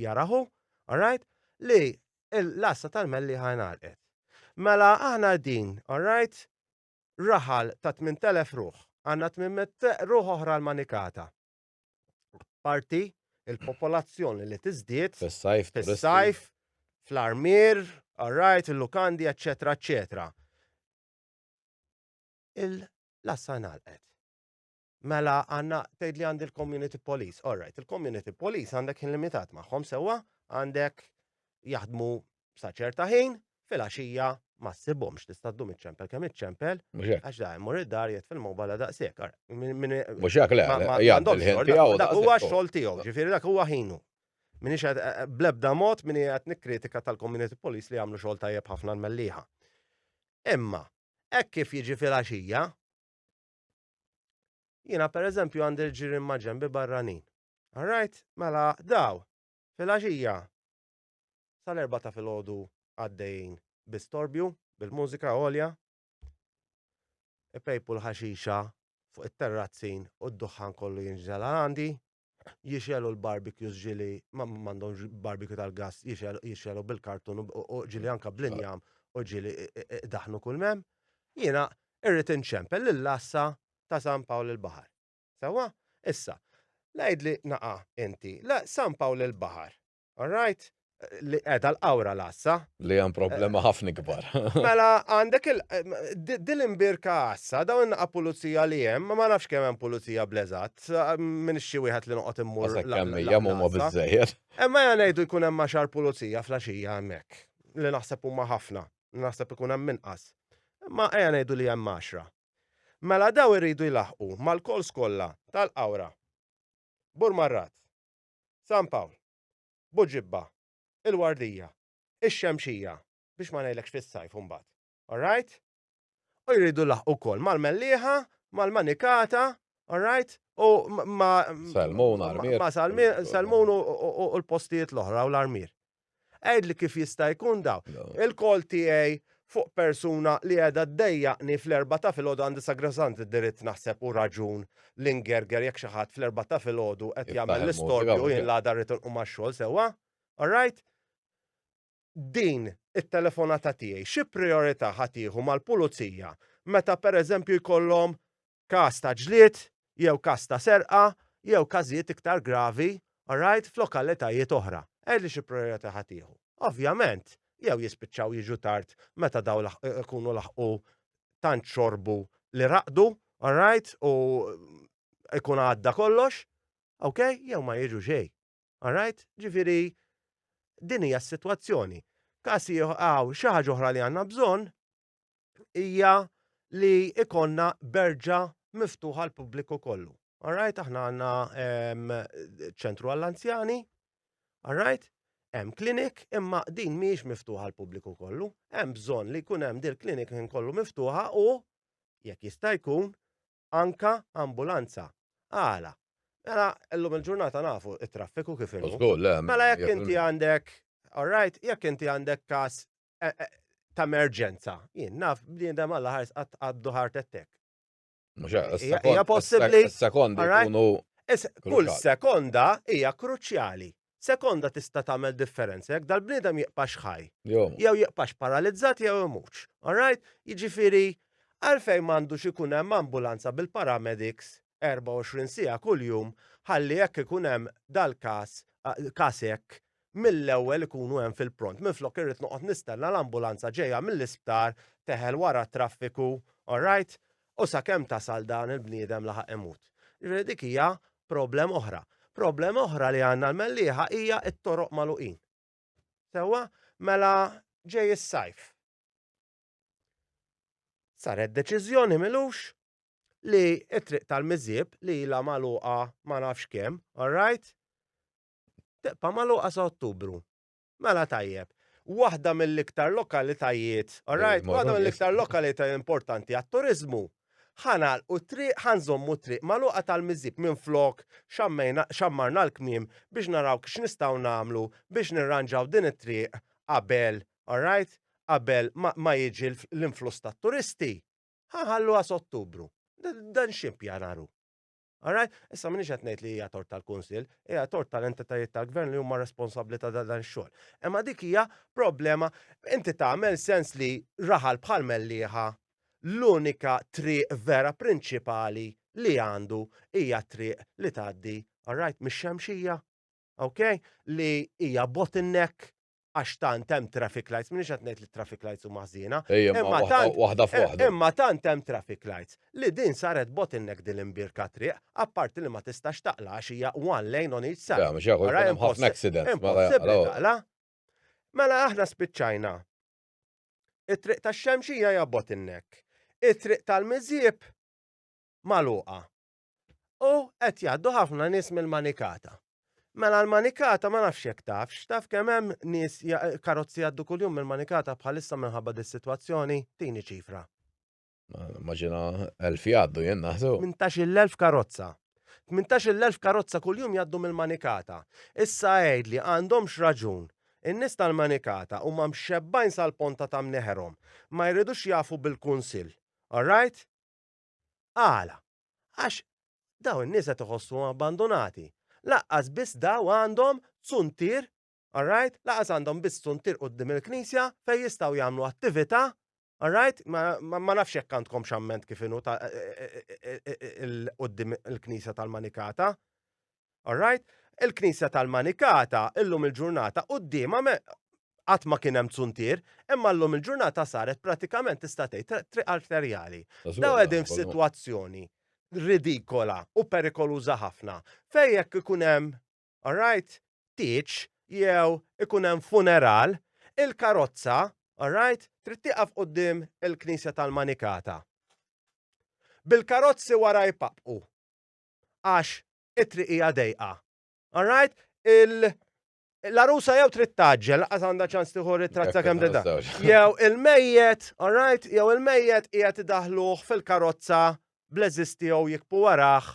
jaraħu, all right, li l-lassa tal-mellieħa ngħalqet. Mela aħna din, all right, raħal ta' 8000 ruħ, għandna 800 ruħ oħra l-manikata. parti il-popolazzjoni li tiżdied fis-sajf, fis-sajf, fl-armir, għarrajt, il-lukandi, eccetera, eccetera. Il-lassa nalqet. Mela għanna tgħid li għandi l-community police. All right, il-community police għandek limitat magħhom sewwa għandek jaħdmu sa ċerta ħin, fil-għaxija ma ssibhomx tista' ddum iċ-ċempel kemm iċ-ċempel. Għax da jmur id-dar jgħid fil-mobile daqshekk. Mhux hekk le, jgħaddu l-ħin tiegħu. Dak huwa x-xogħol tiegħu, ġifieri dak huwa ħinu. Min ix blebda mod min qed nikkritika tal-community police li jagħmlu xogħol tajjeb ħafna l-melliħa. Imma, hekk kif jiġi fil-għaxija, jiena pereżempju għandi l-ġirien ma' ġembi barranin. All right, mela daw, fil-għaxija, sal-erbgħa ta' filgħodu għaddejjin bi storbju bil-mużika għolja, ipejpu l-ħaxixa fuq it-terrazzin u d-duħħan kollu jinżel għal għandi, jixgħelu l-barbecues ġieli ma m'għandhomx barbecue tal-gass jixgħelu bil-kartun u ġieli anke bl-injam u ġieli idaħħnu kull m'hemm. Jiena irrid inċempel lill-għassa ta' San Pawl il-Baħar. Sewwa? Issa, l-għidli naqa' inti, l-San Pawl il-Baħar All right? Li qiegħda l-qawra l-għassa. Li hemm problema ħafna kbar. Mela għandek il din imbirka għassa, dawn in-naqa' pulizija li hemm, ma nafx kemm hemm pulizija bl-eżatt, minn xi wieħed li noqgħod immur. Kemm hija huma biżejjed. Imma ja ngħidu jkun hemm għaxar pulizija flaxija hemmhekk, li naħseb huma ħafna, naħseb ikun hemm inqas. Imma ejja ngħidu li hemm għaxra. Mela daw iridu jlaħqu mal-calls kollha tal-qawra. Bur marrat. San Pawl, Buġibba, il-Wardija, ix-Xemxija, biex ma ngħidlekx fis-sajf imbagħad. All right? U jridu jlaħqu wkoll mal-Mellieħa, mal-Manikata, all right? U ma Salmun, Armir. Ma Salmun u l-postijiet l-oħra u l-Armir. Għidli kif jista' jkun da. Il-call tiegħi fuq persuna li qiegħda ddejjaqni fl-erbgħa ta' filgħodu għandi sagrosant id-diritt naħseb u raġun li ngerger jekk xi ħadd fl-erbgħa ta' filgħodu qed jagħmel l-istorbju u jien l-għada rrid inqum għax-xogħol sewwa. All right? Din it-telefonata tiegħi xi prijorità ħa tieħu mal-pulizija meta pereżempju jkollhom każ ta' ġlied jew każ ta' serqa jew każijiet iktar gravi, alright, f'lokalitajiet oħra. Għidli xi prijorità ħa tieħu. Ovvjament, jew jispiċċaw jiġu tard meta dawn ikunu laħqu tant xorbu li raqdu, alright, u jkun għadda kollox, ok, jew ma jiġu xejn. Alright? Ġifieri din hija s-sitwazzjoni. Każ ieħor, xi ħaġa oħra li għandna bżonn hija li ikonna berġa miftuħa għal pubbliku kollu. Alright, aħna għanna ehm, ċentru għall-anzjani, alright, hemm klinik imma din mhijiex miftuħa għal pubbliku kollu, hemm bżonn li jkun hemm dil klinik minn kollu miftuħa u jekk jista' jkun anka ambulanza. Għala, Mela, llum il-ġurnata nafu it-traffiku kif inhu. Mela jekk inti għandek, alright, jekk inti għandek kas eh, eh, ta' emerġenza. Jien naf bniedem għalla ħars għaddu ħart ettek. Hija possibbli. Sekondi kunu. Kull sekonda hija kruċjali. Sekonda tista' tagħmel differenza jekk dal-bniedem jiqpax ħaj. Jew jiqpax paralizzat jew imux. All right? Jiġifieri għalfejn m'għandux ikun hemm ambulanza bil-paramedics 24 siegħa kuljum ħalli jekk ikun hemm dal-każ, każ hekk, mill-ewwel ikunu hemm fil-pront. Minflok irrid noqgħod nistenna l-ambulanza ġejja mill-isptar teħel wara t-traffiku, all right? U sakemm tasal dan il-bniedem laħaq imut. Ġifieri dik hija problem oħra. Problem oħra li għandna l-Mellieħa hija t-toroq magħluqin. Sewwa? Mela ġej is-sajf. Saret deċiżjoni milux li t-triq tal-miżieb li ilha magħluqa ma nafx kemm, all right? Tibqa' magħluqa sa Ottubru. Mela tajjeb. Waħda mill-iktar lokalitajiet, all right, waħda mill-iktar lokalitajiet importanti għat-turiżmu. Ħa nagħlqu t-triq, ħa nżommu t-triq magħluqa tal-miżieb minflok xammarna l-kmiem biex naraw x'nistgħu nagħmlu biex nirranġaw din it-triq qabel all right, qabel ma jiġi l-influss tat-turisti, ħa nħalluha s'Ottubru. Dan x'ippjanar hu? All right? Issa m'iniex qed ngħid li hija tort tal-Kunsill, hija tort tal-entitajiet tal-Gvern li huma responsabbli ta' dan ix-xogħol. Imma dik hija problema inti tagħmel sens li raħal bħal Mellieħa l-unika triq vera prinċipali li għandu hija triq li tgħaddi, all right, mix-Xemxija. Okay? Li hija bottleneck għax tant hemm traffic lights, minix qed ngħid li traffic lights huma ħżiena. Imma tant hemm traffic lights li din saret bottleneck din l-imbirka triq, apparti li ma tistax taqla għax hija one lane on each side. Mela aħna spiċċajna. It-triq tax-xemxija hija bottleneck. It-triq tal-miżjib magħluqa. U qed jgħaddu ħafna nies mill-Manikata. Mela l-Manikata ma nafx jekk tafx, taf kemm hemm nies karozzi jgħaddu kuljum mill-Manikata bħalissa minħabba dis-sitwazzjoni, tini ċifra. Maġina elf jgħaddu jien naħsu. 18,000 karozza. 18,000 karozza kuljum jgħaddu mill-Manikata. Issa għidli għandhomx raġun. In-nies tal-Manikata huma mxebbgħin sal-ponta ta' mneħerhom. Ma jridux jafu bil-Kunsill. All right? Għala? Għax dawn in-nies qed iħossuhom abbandunati. Lanqas biss daw għandhom zuntier, all right? Lanqas għandhom biss zuntier quddiem il-Knisja fejn jistgħu jagħmlu attività, all right? Ma nafx jekk għandkomx amment kif inhu quddiem il-Knisja tal-Manikata. All right? Il-Knisja tal-Manikata illum il-ġurnata quddiemha qatt ma kien hemm zuntier, imma llum il-ġurnata saret pratikament tista' tgħid triq arterjali. Daw qegħdin f'sitwazzjoni ridikola u perikoluża ħafna fejn jekk ikun hemm, all right, tieġ jew ikun hemm funeral, il-karozza, all right, trid tieqaf quddiem il-Knisja tal-Manikata. Bil-karozzi wara jpappqu. għax it-triq hija dejqa. All right? Il l-arusa jew trid taġġel, laqas għandha ċans tieħu ritratt sakemm deda. Jew il-mejjet, all right, jew il-mejjet qiegħed idaħluh fil-karozza bl-eżiż tiegħu jikbu warah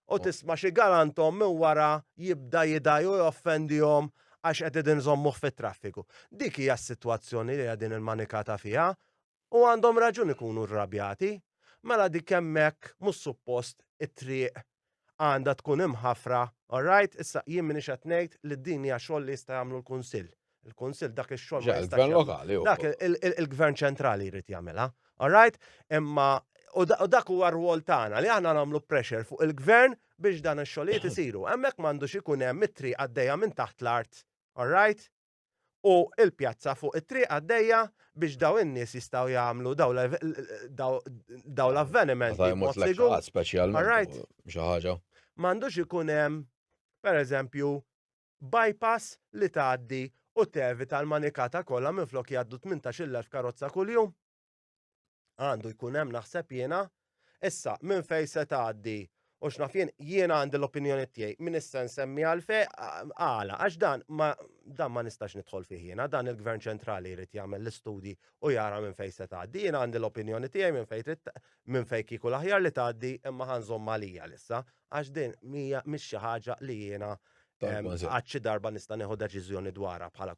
u tisma' xi galantom minn wara jibda jidaj u joffendihom għax qed idin żommuh fit-traffiku. Dik hija s-sitwazzjoni li qegħdin il-manikata fiha U għandhom raġun ikunu rrabjati. Mela dik hemmhekk mhux suppost it-triq għandha tkun imħafra, all right? Issa jien m'iniex qed ngħid li din hija xogħol li jista' jagħmlu l-Kunsill. Il-Kunsill dak ix-xogħol ma jistax jagħmlu. Dak il-Gvern Ċentrali jrid jagħmilha, all right? Imma u dak huwa r-rwol tagħna li aħna nagħmlu pressure fuq il-Gvern biex dan ix-xogħlijiet isiru. Hemmhekk m'għandux ikun hemm it-triq għaddejja minn taħt l-art, all right? u l-pjazza fuq it-triq għaddejja biex daw in-nies jistgħu jagħmlu daw l- daw- daw l-avveniment Meta jmut b'mod sigur. l-ex speċjalment. Alright. u Xi ħaġa. M'għandux ikun hemm, pereżempju, bypass li tgħaddi u tevita l-manikata kollha minflok jgħaddu 18,000 karozza kuljum. Għandu jkun hemm naħseb jiena issa minn fejn se tgħaddi u x'naf jien jiena għandi l-opinjoni tiegħi minn issa nsemmi għal fej għala għax dan ma dan ma nistax nidħol fih jiena dan il-Gvern ċentrali jrid jagħmel l-istudji u jara minn fejn se tgħaddi. Jiena għandi l-opinjoni tiegħi minn fejn trid minn fejn kieku l-aħjar li tgħaddi imma ħanżomm għalija lissa għax din mija mhix xi ħaġa li jiena għad xi darba nista' neħu deċiżjoni dwarha bħala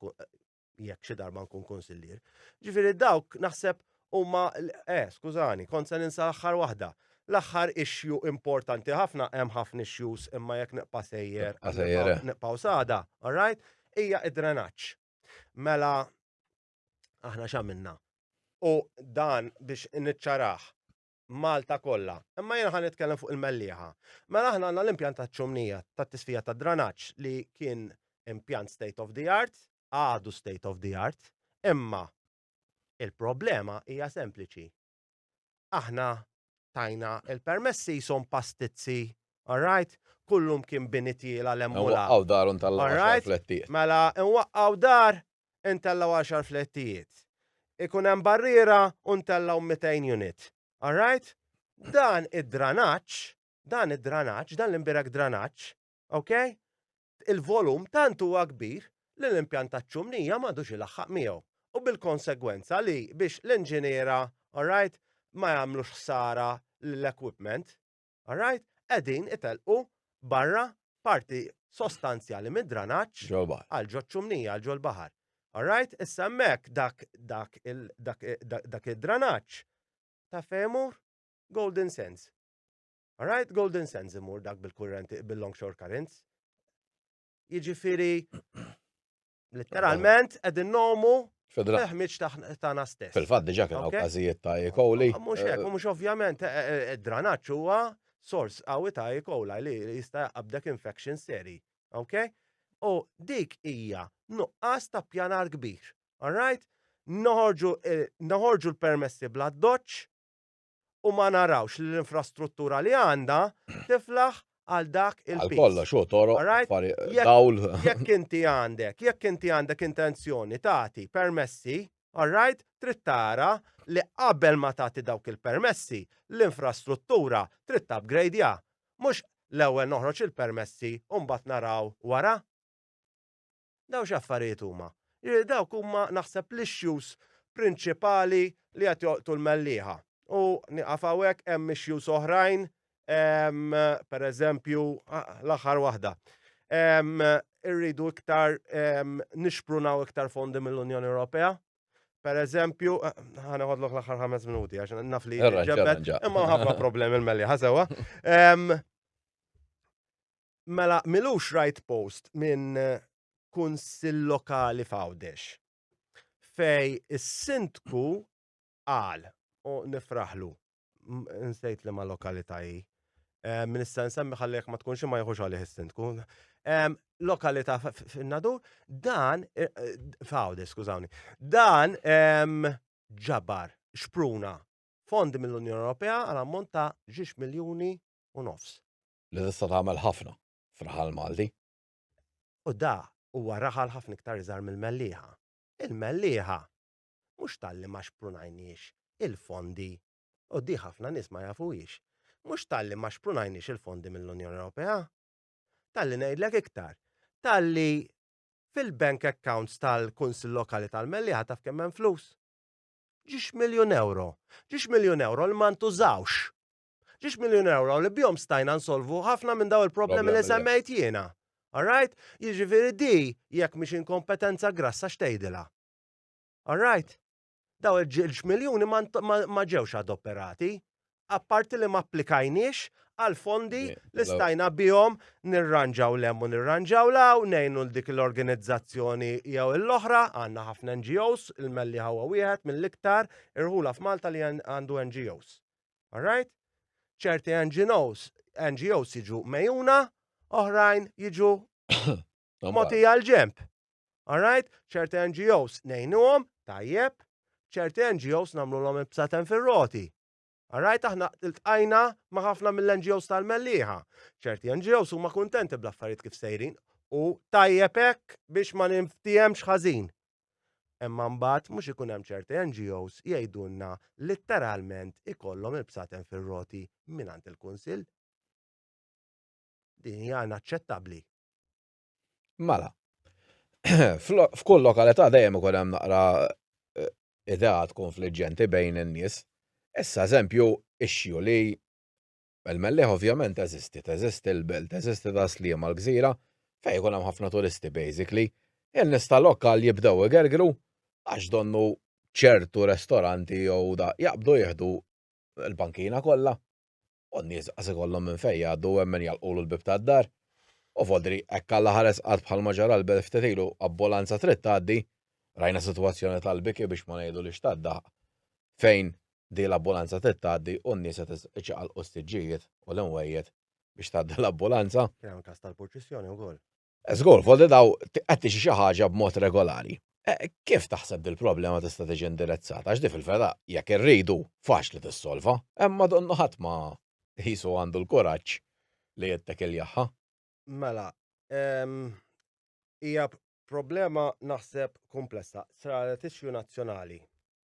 jekk xi darba nkun konsillier. Ġifieri dawk naħseb huma eh skużani, kont se ninsa l-aħħar waħda. L-aħħar issue importanti ħafna hemm ħafna issues imma jekk neqpa' sejjer, eh. neqpaw sada, all right? Hija id-drenaġġ. Mela aħna x'għamilna? U dan biex niċċaraħ, Malta kollha. Imma jiena ħa nitkellem fuq il-Mellieħa. Mela aħna għandna l-impjant taċ-ċumnija tat-tisfija tad-dranaġġ li kien impjant state of the art, għadu state of the art, imma il-problema hija sempliċi. Aħna tajna il-permessi jisom pastizzi, all right? Kullum kien bini tiela l-emmula. Waqqaw darun tal-għaxar flettijiet. Mela, nwaqqaw dar intellgħu għaxar flettijiet. Ikun hemm barriera u ntellgħu 200 unit. All right? Dan id-dranaġġ, dan id-dranaġġ, dan l-imbierek dranaġġ, okay? il-volum tant huwa kbir li l-impjant taċ-ċumnija m'għadux ilaħħaq miegħu. U bil-konsegwenza li biex l-inġiniera, all right, ma jagħmlux ħsara l-equipment, All right? Qegħdin itelqu barra parti sostanzjali mid-dranaġġ għal ġo ċumnija għal ġo l-baħar. All right? Issa hemmhekk dak dak dak id-dranaġġ ta' femur Golden Sands. All right? Golden Sands imur dak bil-kurrenti bil-longshore currents. Jiġifieri Literalment, edin nomu Fil-ħmiċ taħna stess. Fil-fat diġa kien għaw kazijiet ta' E. coli. Ah, mux hekk, eh, mux ovvjament, eh, eh, id-dranaċ huwa sors għawi ta' E. coli li jista' jaqabdek infection seri. Ok? U dik hija nuqqas ta' pjanar kbir. Alright? Noħorġu l-permessi bla doċ, u ma narawx li l-infrastruttura li għandha tiflaħ għal dak il-piż. Għal kollox hu toroq, dawl. Jekk inti għandek, jekk inti għandek intenzjoni tagħti permessi, all right, trid tara li qabel ma tagħti dawk il-permessi, l-infrastruttura trid tapgrejdja. Mhux l-ewwel noħroġ il-permessi u mbagħad naraw wara. Dawn x'affarijiet huma? Jiġifieri dawk huma naħseb l-issues prinċipali li qed jolqtu l-mellieħa. U nieqaf hawnhekk hemm issues oħrajn pereżempju l-aħħar waħda. Irridu iktar nixprunaw iktar fondi mill-Unjoni Ewropea. Pereżempju, ħa neħodlok l-aħħar ħames minuti għax naf li ġebbet imma ħafna problemi l-mellieħa sewwa. Mela, milux rajt post minn kunsill lokali f'Għawdex fej is-sindku qal u nifraħlu, nsejt liema lokalità hi, min issa nsemmi ħalli jekk ma tkunx hi ma jieħux għalih is-sindku, lokalità fin-Nadur, dan f'Għawdex skużawni, dan ġabar, xpruna fondi mill-Unjoni Ewropea għal ammont ta' ġiex miljuni u nofs. li tista' tagħmel ħafna f'raħal Malti. U da huwa raħal ħafna iktar iżgħar mill-Mellieħa. Il-Mellieħa mhux talli ma xprunajniex il-fondi u di ħafna nies ma jafuhiex. Mhux talli ma xprunajniex il-fondi mill-Unjoni Ewropea. Talli ngħidlek iktar. Talli fil-bank accounts tal-Kunsill Lokali tal-Mellieħa taf kemm hemm flus? Ġiex miljun euro. Ġiex miljun euro li ma ntużawx Ġiex miljun euro li bjom stajna nsolvu ħafna minn daw il-problemi li semmejt jiena. Alright? Jiġifieri di jekk mhix inkompetenza grassa xtejdila. Alright? Daw il-ġilġ miljuni ma ġewx adoperati, apparti li ma applikajniex għal fondi li stajna bihom nirranġaw lemmu nirranġaw law, nejnu l-dik l-organizzazzjoni jew l-oħra, għanna ħafna NGOs, il-melli ħawa wieħed mill-iktar irħula f'Malta li għandu NGOs. All right? ċerti NGOs, NGOs jiġu mejuna, oħrajn jiġu moti għal-ġemp. Alright, ċerti NGOs nejnuhom, tajjeb, ċerti NGOs namlu l-om ibsaten fil-roti. Alright, aħna il-tqajna ma ħafna mill-NGOs tal-melliħa. ċerti NGOs huma kuntenti bl-affarijiet kif sejrin u tajjeb hekk biex ma ninftihemx ħażin. Imma mbagħad mhux ikun hemm ċerti NGOs jgħidulna litteralment ikollhom il-bsaten fir-roti mingħand il-Kunsill. Din hija inaċċettabbli. Mela, f'kull lokalità dejjem ikun hemm naqra eh, ideat konfliġġenti bejn in-nies. Issa eżempju ixxu li Il-Mellieħ ovvjament teżisti, teżisti l-belt, teżisti Tas-Sliema l-gżira fejn ikun hemm ħafna turisti basically. In-nies tal-lokal jibdew igergru għax donnu ċertu restoranti jew da jaqbdu jieħdu l-bankina kollha u n-nies qas ikollhom minn fejn jgħaddu u hemm min jagħlqulu l-bieb tad-dar. U vodri hekk alla ħares qatt bħalma ġara l-belt ftit ilu abbulanza trid tgħaddi, rajna sitwazzjoni tal-biki biex ma ngħidu li xtaddaħq fejn din l-ambulanza trid tgħaddi u n-nies qed iċaqalqu s-siġġijiet u l-imwejjed biex tgħaddi l-ambulanza. Kien hemm każ tal-purċissjoni wkoll. Żgur, foldi daw qed tixi xi ħaġa b'mod regolari. E, kif taħseb dil-problema tista' tiġi indirizzata? Għax di fil-vera jekk irridu faċli tissolva, imma donnu ħadd ma jisu għandu l-kuraġġ li jittek il-jaħħa. Mela, hija problema naħseb komplessa, saret issue nazzjonali.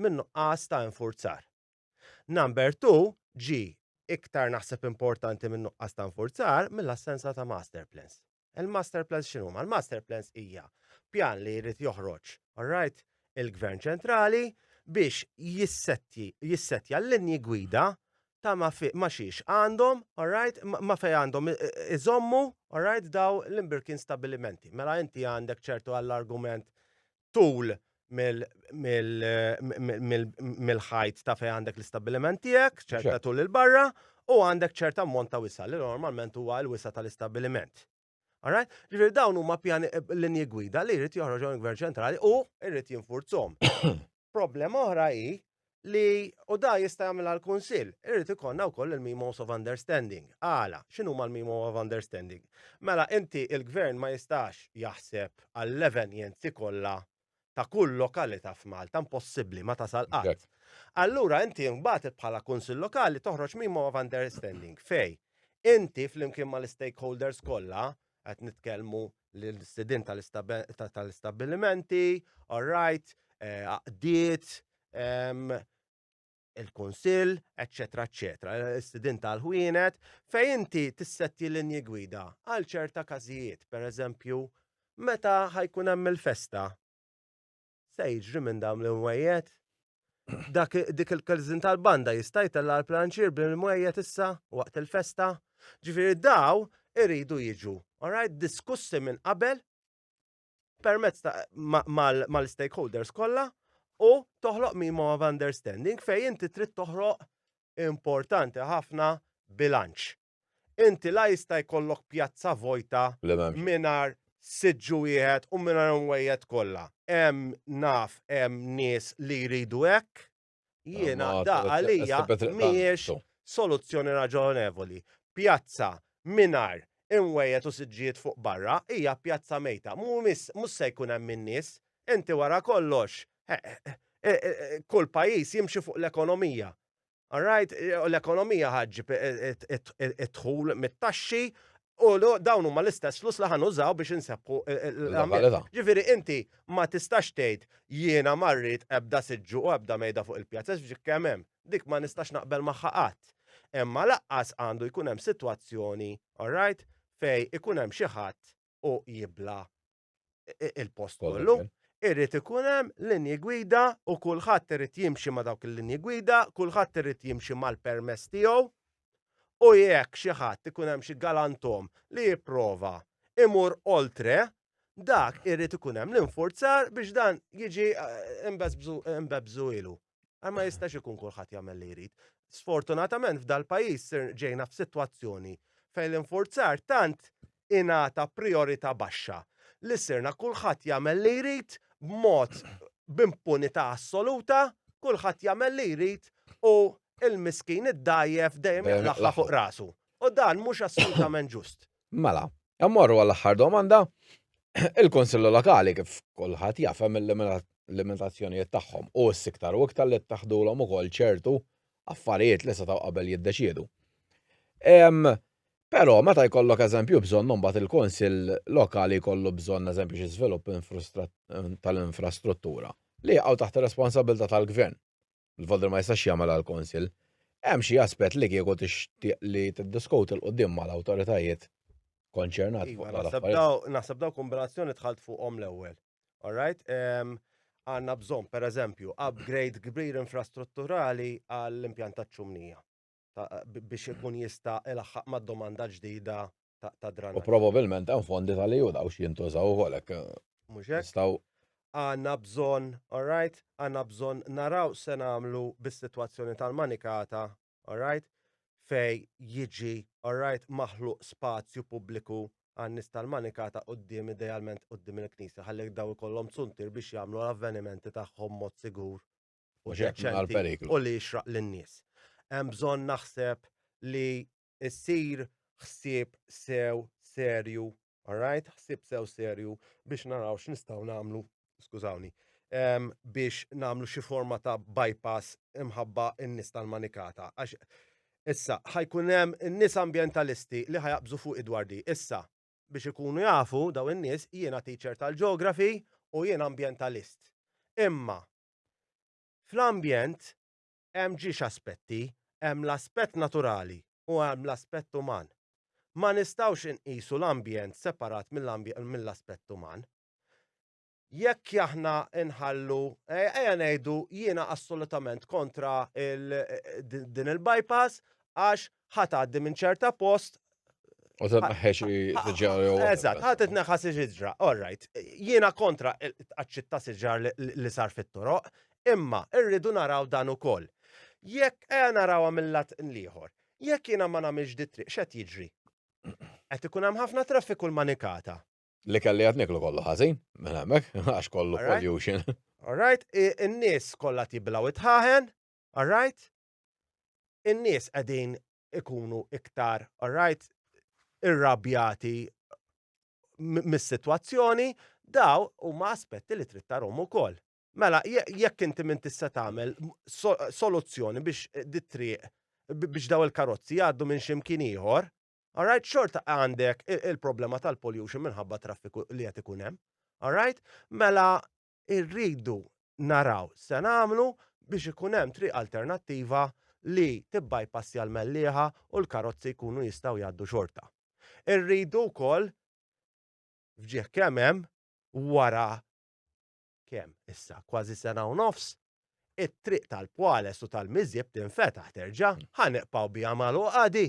minn nuqqas ta' infurzar. Number two ġi iktar naħseb importanti minn nuqqas ta' infurzar mill-assenza ta' master plans. Il-master plans x'inhu? Ma l-master plans hija pjan li jrid joħroġ, alright, il-Gvern Ċentrali biex jissettja l-linji gwida ta' ma xiex għandhom, alright, ma fej għandhom iżommu, alright, daw l-imbirkin stabilimenti. Mela inti għandek ċertu għall-argument tul mill-ħajt ta' fejn għandek l-istabbiliment tiegħek, ċerta tul il-barra, u għandek ċerta ammont ta' wisa li normalment huwa l-wisa tal-istabbiliment. Alright? Ġifieri dawn huma pjani eh, linji gwida li jrid joħroġhom il-Gvern ċentrali u jrid jinfurzhom. Problema oħra hi li u da jista' jagħmilha l-Kunsill, irid ikollna wkoll il-Memos of Understanding. Għala, x'inhuma l-Memo of Understanding? Mela inti il-Gvern ma jistax jaħseb għall-evenjenzi kollha ta' kull lokalità f'Malta, impossibbli, ma tasal qatt. Allura inti mbagħad bħala Kunsill Lokali toħroġ Memo of Understanding fej inti flimkien mal-istakeholders kollha qed nitkellmu l-istedin tal-istabbilimenti, all right, eh, għaqdiet, il-kunsill, eccetera, eccetera, l-istedin tal-ħwienet, fej inti tissetti l-inji gwida għal ċerta każijiet, per eżempju, meta ħajkun hemm il-festa. Se jiġri minn dawn l-imwejjed? Dak dik il-kazin tal-banda jista' jtella' l-planċir bil-imwejjed issa waqt il-festa? Ġifieri daw iridu jiġu, alright, diskussi minn qabel permezz mal-stakeholders kollha u toħloq mimo of understanding fejn inti trid toħroq importanti ħafna bilanċ. Inti la jista' jkollok pjazza vojta mingħajr siġġu wieħed u mingħajr imwejjed kollha. Hemm naf hemm nies li jridu hekk, jiena da għalija mhijiex soluzzjoni raġonevoli. Pjazza mingħajr imwejjed u siġġijiet fuq barra hija pjazza mejta. Mhux se jkun hemm in-nies. Inti wara kollox, kull pajjiż jimxi fuq l-ekonomija. All right, l-ekonomija ħaġġib id-dħul mit-taxxi u dawn huma l-istess flus li ħanużaw biex insebħu l-għamil. Ġifieri inti ma tistax tgħid jiena marrit ebda siġġu u ebda mejda fuq il-pjazza biex kemm hemm. Dik ma nistax naqbel magħha qatt. Imma laqqas għandu jkun hemm sitwazzjoni, all right, fej ikun hemm xi ħadd u jibla il-post kollu. Irrid ikun hemm linji gwida u kulħadd irid jimxi ma' dawk il-linji gwida, kulħadd irid jimxi mal-permess tiegħu. U jekk xi ħadd ikun hemm xi galantom li jipprova imur oltre, dak irrid ikun hemm l-infurzar biex dan jiġi eh, imbebżu ilu. Għal ma jistax ikun kulħadd jagħmel li jrid. Sfortunatament f'dal-pajjiż ġejna f'sitwazzjoni fejn l-infurzar tant ingħata priorita baxxa li sirna kulħadd jagħmel li jrid b'mod b'impunità assoluta, kulħadd jagħmel li jrid u l-miskin id-dgħajjef dejjem jitlaħħla fuq rasu. U dan mhux assolutament ġust. Mela, immorru għall-aħħar domanda. Il-Kunsilli Lokali, kif kulħadd jaf, hemm il-limitazzjonijiet tagħhom u issa iktar u iktar li ttaħħdulhom ukoll ċertu affarijiet li setgħu qabel jiddeċiedu. Però meta jkollok eżempju bżonn imbagħad il-Kunsill Lokali jkollu bżonn eżempju xi żvilupp tal-infrastruttura li jaqgħu taħt ir-responsabbiltà tal-Gvern. il-Voldra ma jistax jagħmel għal Konsil. Hemm xi aspett li kieku tixtieq li tiddiskuti l qudiem mal-awtoritajiet konċernat fuq iva, l-affarijiet. Naħseb daw kombinazzjoni tħalt fuqhom l-ewwel. Alright? Għanna bżon, per eżempju, upgrade kbir infrastrutturali għall-impjant ta' ċumnija. biex ikun jista' ilaħħaq mad-domanda ġdida ta' dranaġġ. U probabilment hemm fondi tal-EU daw xi jintużaw ukoll hekk. Mhux hekk? Għandna bżonn, all right, għandna bżonn naraw se nagħmlu bis-sitwazzjoni tal-manikata, all right, fej jiġi, all right, maħluq spazju pubbliku għan-nies tal-manikata quddiem idealment quddiem il-knisja ħalli daw ikollhom zuntir biex jagħmlu l-avvenimenti tagħhom mod sigur u deċenti u li jixraq lin-nies. Hemm bżonn naħseb li jsir ħsieb sew serju, alright, ħsieb sew serju biex naraw x'nistgħu nagħmlu, skużawni, biex nagħmlu xi forma ta' bypass imħabba n-nies tal-manikata. Għax issa ħajkun hemm in-nies ambjentalisti li ħajaqbżu fuq idwardi. Issa biex ikunu jafu daw in-nies jiena teacher tal-geography u jiena ambjentalist. Imma Fl-ambjent hemm ġiex aspetti, hemm l-aspett naturali u hemm l-aspett uman. Ma nistgħux inqisu l-ambjent separat mill-aspett uman. Jekk aħna nħallu, ejja ngħidu jiena assolutament kontra din il-bypass għax ħa tgħaddi minn ċerta post U ta' naħħex siġar jew. Eżatt, ħadd itneħħa siġra. All right, jiena kontra t-tqaċċit ta' siġar li sar fit-toroq, imma rridu naraw dan ukoll. Jekk ejja narawha mill-lat l-ieħor, jekk jiena ma nagħmilx di triq x'qed jiġri? Qed ikun hemm ħafna traffiku l-manikata. Li kelli qed niklu kollu ħażin, minn hemmhekk, għax kollu pollution. All right, in-nies kollha tiblaw it-ħaħen, all right? in-nies qegħdin ikunu iktar alright irrabjati mis-sitwazzjoni, daw huma aspetti li trid tarhom ukoll. Mela, jekk inti minn tista' tagħmel soluzzjoni biex dit-triq biex daw il-karozzi jgħaddu minn ximkien ieħor, alright, xorta għandek il-problema tal-pollution minħabba traffiku li qed ikun hemm. Alright? Mela, irridu naraw se nagħmlu biex ikun hemm triq alternattiva li tibbajpassja l-Mellieħa u l-karozzi jkunu jistgħu jgħaddu xorta. Irridu wkoll f'ġieħ kemm hemm wara kemm issa kważi sena u nofs it-triq tal-Pwales u tal-Miżjeb tinfetaħ terġa' ħaneqpaw biha magħluqa di.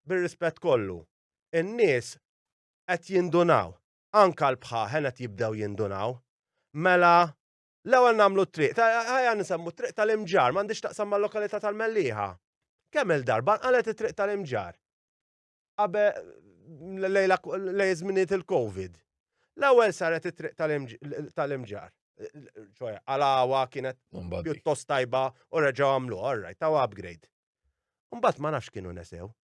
Bir-rispett kollu, in-nies qed jindunaw anke l-bħaħen qed jibdew jindunaw. Mela, l-ewwel nagħmlu t-triq, ħajja nisemmu t-triq tal-imġar, m'għandix taqsam mal-lokalità tal-Mellieħa. Kemm il-darba nqalet it-triq tal-imġar. Qabe lej żminijiet il-COVID. L-ewwel saret it-triq tal-imġar. ċoja, għalawa kienet pjuttost tajba u reġaw għamlu, orraj, taw upgrade. Umbat ma nafx kienu nesew,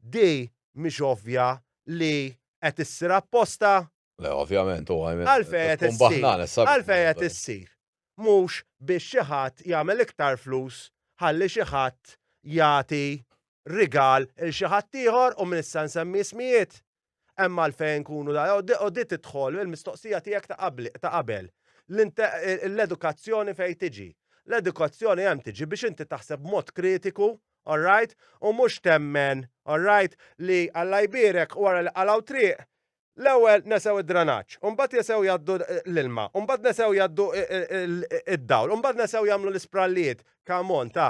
Di mhix ovvja li qed issir apposta? Le, ovvjament, u I mean, Għalfejn qed tkun issir? baħnana s-sabiħ. Għalfejn qed issir? Mhux biex xi ħadd jagħmel iktar flus ħalli xi ħadd jagħti rigal 'l xi ħaddieħor u minn issa nsemmi ismijiet? Hemm għalfejn nkunu da, u di tidħol il-mistoqsija tiegħek ta' qabel. L-edukazzjoni fejn tiġi? L-edukazzjoni hemm tiġi biex inti taħseb b'mod kritiku, all right, u mhux temmen, all right, li Alla jbierek u wara li qalgħu triq, l-ewwel nesew id-dranaġġ, u mbagħad jesew jgħaddu l-ilma, u mbagħad nesew jgħaddu id-dawl, u mbagħad nesew jagħmlu l-isprallijiet. Come on, ta!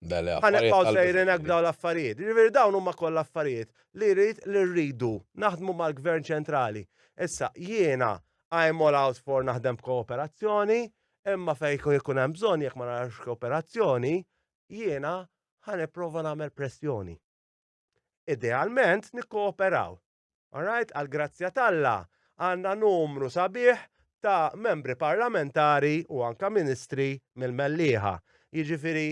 Bele, Ħanibqgħu sejrin hekk b'dawn l-affarijiet. Jiġifieri dawn huma koll affarijiet li rrid li rridu naħdmu mal-Gvern ċentrali. Issa jiena I am all out for naħdem b'kooperazzjoni, imma fejn jkun ikun hemm bżonn jekk ma narax kooperazzjoni, jiena ħa nipprova nagħmel pressjoni. Idealment nikkooperaw, All right, għall-grazzja t'Alla, għandna numru sabiħ ta' Membri Parlamentari u anke Ministri mill-Mellieħa. Jiġifieri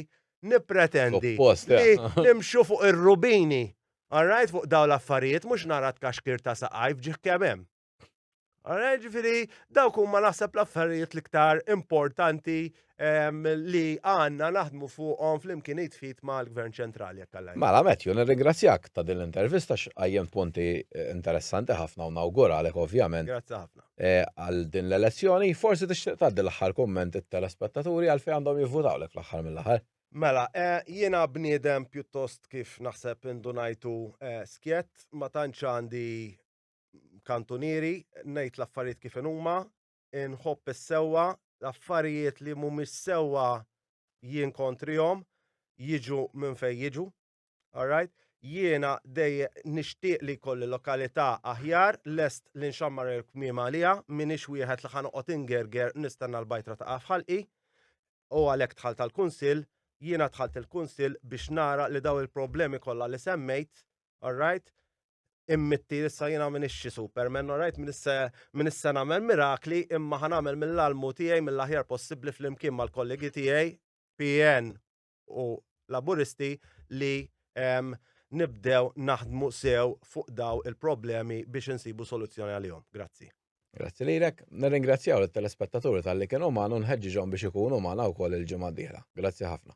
nippretendi li nimxu fuq ir-rubini, all right, fuq dawn l-affarijiet, mhux nara tkaxkir ta' saqajh f'ġieħ kemm hemm. Ara, ġifiri, dawk huma naħseb l-affarijiet l-iktar importanti ehm, li għanna naħdmu fuqhom fl-imkien jitfit mal-Gvern Ċentrali jekk għallaj. Mela, Matthew, nirringrazzjak ta' din l-intervista x'qajjem punti eh, interessanti ħafna u nawguralek ovvjament. Grazzi ħafna. Eh, għal din l-elezzjoni, forsi tixtieq tgħaddi l-aħħar kumment it-telespettaturi għal fejn għandhom jivvutawlek fl-aħħar mill-aħħar. Mela, eh, jiena bniedem pjuttost kif naħseb indunajtu skjett, ma tantx għandi kantunieri, ngħid l-affarijiet kif huma, inħobb is-sewwa, l-affarijiet li mhumiex sewwa jien kontrihom, jiġu minn fejn jiġu. Alright? Jiena dej nixtieq li kolli lokalità aħjar, lest li nxammar il-kmiem għaliha, minix wieħed li ħanoqgħod ingerger nistenna l-bajtra taqa' f'ħalqi. U għalhekk dħalt għall-Kunsill, jiena dħalt il-Kunsill biex nara li daw il-problemi kollha li semmejt, alright, immitti issa jina minn ixxi Superman, rajt minn issa minn issa nagħmel mirakli imma ħan nagħmel mill-almu tiegħi mill-aħjar possibbli flimkien mal-kollegi tiegħi PN u Laburisti li ehm, nibdew naħdmu sew fuq daw il-problemi biex insibu soluzzjoni għalihom. Grazzi. Grazzi lilek, nirringrazzjaw lit-telespettaturi tal-li kienu magħna nħeġġiġhom biex ikunu magħna wkoll il-ġimgħa d-dieħla. Grazzi ħafna.